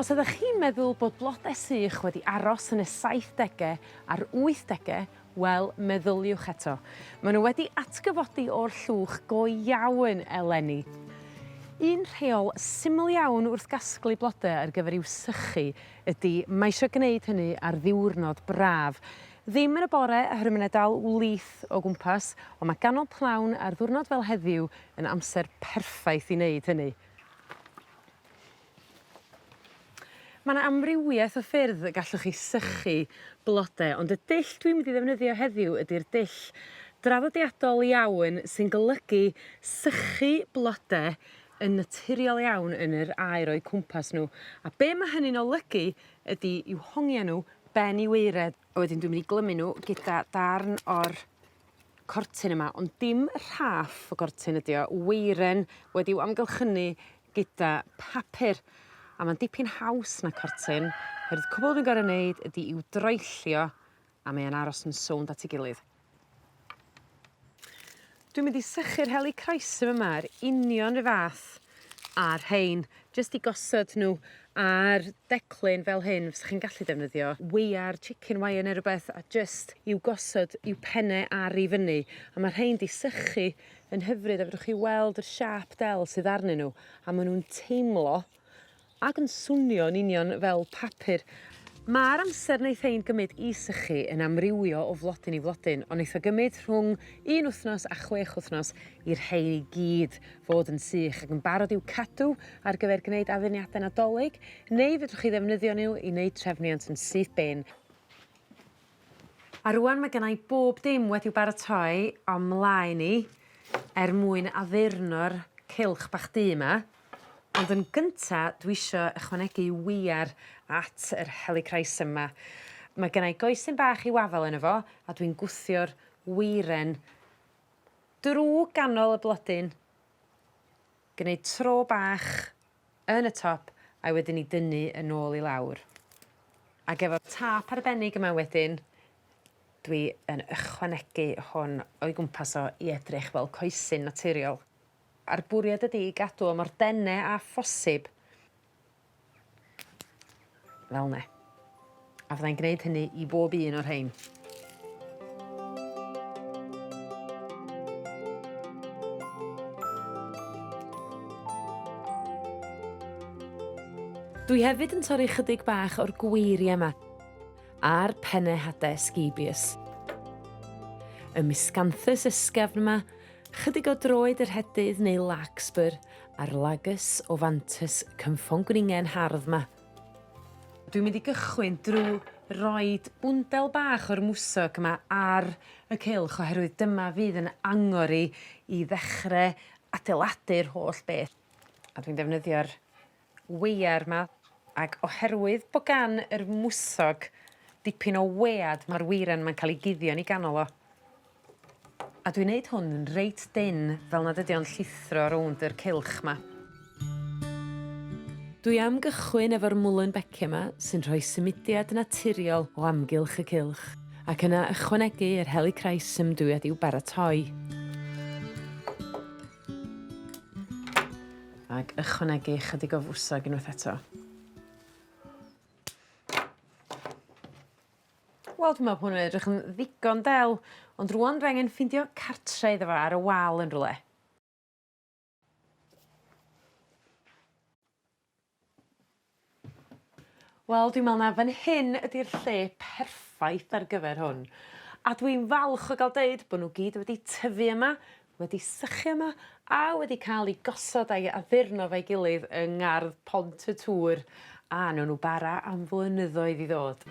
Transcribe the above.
Os ydach chi'n meddwl bod blode sych wedi aros yn y saithdege a'r wythdege, wel, meddyliwch eto. Maen nhw wedi atgyfodi o'r llwch go iawn eleni. Un rheol syml iawn wrth gasglu blode ar gyfer i'w sychu ydi mae isio gneud hynny ar ddiwrnod braf. Ddim yn y bore oherwydd mae 'na dal wlith o gwmpas, ond mae ganol pnawn ar ddiwrnod fel heddiw yn amser perffaith i wneud hynny. Ma' 'na amrywieth o ffyrdd y gallwch chi sychu blode ond y dull dwi'n mynd i ddefnyddio heddiw ydi'r dull draddodiadol iawn sy'n golygu sychu blode yn naturiol iawn yn yr aer o'u cwmpas n'w a be' ma' hynny'n olygu ydi i'w hongian n'w ben i waered a wedyn dwi'n myn' i glymu n'w gyda darn o'r cortyn yma ond dim rhaff o gortyn ydi o weiren wedi'w amgylchynu gyda papur a ma'n dipyn haws na cortyn oherwydd cwbwl dwi'n gor'o' neud ydi i'w droellio a mae o'n aros yn sownd at 'i gilydd. Dwi'n mynd i sychu'r helichrysum yma yr union 'ru' fath â rhein jyst i gosod n'w ar declyn fel hyn fysach chi'n gallu defnyddio weiar chicken wire ne' rwbeth a jyst i'w gosod i'w penne ar i fyny a ma' rhein 'di sychu yn hyfryd a fedrwch chi weld yr siâp del sydd arnyn nhw a maen nhw'n teimlo ac yn swnio yn union fel papur. Mae'r amser wnaeth ein gymryd i sychu yn amrywio o flodyn i flodyn, ond wnaeth o gymryd rhwng un wythnos a chwech wythnos i'r rhain i gyd fod yn sych ac yn barod i'w cadw ar gyfer gwneud addurniadau Nadolig, neu fedrwch chi ddefnyddio nhw i wneud trefniant yn syth bin. A rŵan ma' gynna' i bob dim wedi'w baratoi on' mlaen i er mwyn addurno'r cylch bach du 'ma ond yn gynta dwi isio ychwanegu wiar at yr helichrysum 'ma. Ma' gynna' i goesyn bach i'w afal yno fo a dwi'n gwthio'r weiren drw ganol y blodyn gneud tro bach yn y top a'i wedyn 'i dynnu yn ôl i lawr. Ag efo'r top arbennig yma wedyn dwi yn ychwanegu hwn o'i gwmpas o i edrych fel coesyn naturiol. A'r bwriad ydi i gadw o mor dene â phosib. Fel 'ne. A fyddai'n gneud hynny i bob un o'r rhein. Dwi hefyd yn torri chydig bach o'r gweirie 'ma a'r penne hade scabious. Y miscanthus ysgafn 'ma Chydig o droed y rhedydd neu larkspur a'r Lagus ovantus cynfongwningen hardd 'ma. Dwi'n mynd i gychwyn drw roid bwndel bach o'r mwsog 'ma ar y cylch oherwydd dyma fydd yn angor i i ddechre adeiladu'r holl beth a dwi'n defnyddio'r wea'r 'ma ag oherwydd bo' gan yr mwsog dipyn o wead ma'r weiren 'ma'n ca'l 'i guddio yn 'i ganol o. A dwi'n neud hwn yn reit dynn fel nad ydi o'n llithro rownd yr cylch 'ma. Dwi am gychwyn efo'r Muehlenbeckia 'ma sy'n rhoi symudiad naturiol o amgylch y cylch ac yna ychwanegu yr Helichrysum dwi wedi i'w baratoi. Ac ychwanegu ychydig o fwsog unwaith eto. Wel dwi me'wl bo' hwn yn edrych yn ddigon del ond rŵan fe angen ffindio cartre iddo fo ar y wal yn rwle. Wel dwi me'wl ma' fan hyn ydi'r lle perffaith ar gyfer hwn. A dwi'n falch o ga'l deud bo' n'w gyd wedi tyfu yma wedi sychu yma a wedi ca'l 'u gosod a'i addurno fo'i gilydd yng ngardd Pont y Tŵr a newn n'w bara am flynyddoedd i ddod.